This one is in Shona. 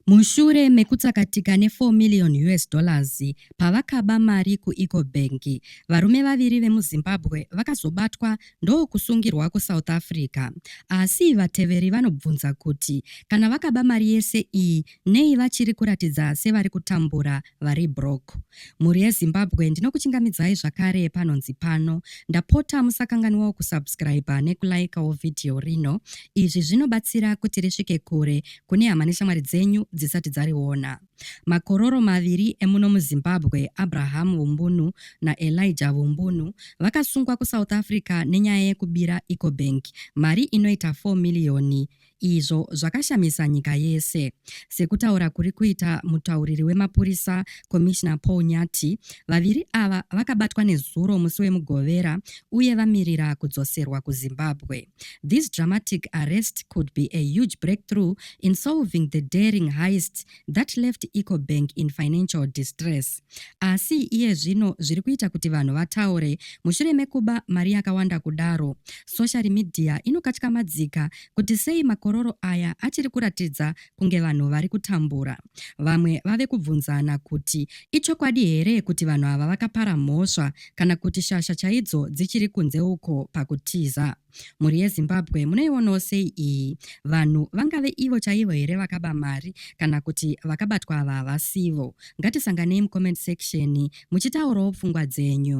Mushure mekutsakatika ne 4 million us dollars pavakaba mari ku Ecobank, varume vaviri vemuZimbabwe vakazobatwa ndokusungirwa kuSouth Africa. Asi vateveri vanobvunza kuti kana vakaba mari yese iyi nei vachiri kuratidza sevari kutambura vari broke. Mhuri yeZimbabwe ndinokuchingamidzai zvakare panonzi pano. Ndapota musakanganwawo kusubscriber nekulikewo video rino. Izvi zvinobatsira kuti risvike kure kune hama neshamwari dzenyu dzisati dzariona. Makororo maviri emuno muZimbabwe, Abraham Vumbunu naElijah Vumbunu, vakasungwa kuSouth Africa nenyaya yekubira Ecobank mari inoita 4 miriyoni izvo zvakashamisa nyika yese. Sekutaura kuri kuita mutauriri wemapurisa Commissioner Paul Nyati, vaviri ava vakabatwa nezuro musi weMugovera uye vamirira kudzoserwa kuZimbabwe. This dramatic arrest could be a huge breakthrough in solving the daring heist that left EcoBank in financial distress. Asi iye zvino zviri kuita kuti vanhu vataure mushure mekuba mari yakawanda kudaro. Social media inokatyamadzika kuti sei makororo aya achiri kuratidza kunge vanhu vari kutambura. Vamwe vave kubvunzana kuti ichokwadi here kuti vanhu ava vakapara mhosva kana kuti shasha chaidzo dzichiri kunze uko pakutiza. Mhuri yeZimbabwe munoionawo sei iyi? Vanhu vangave ivo chaivo here vakaba mari kana kuti vakabatwa ava havasivo? Ngatisanganei mucomment section muchitaurawo pfungwa dzenyu.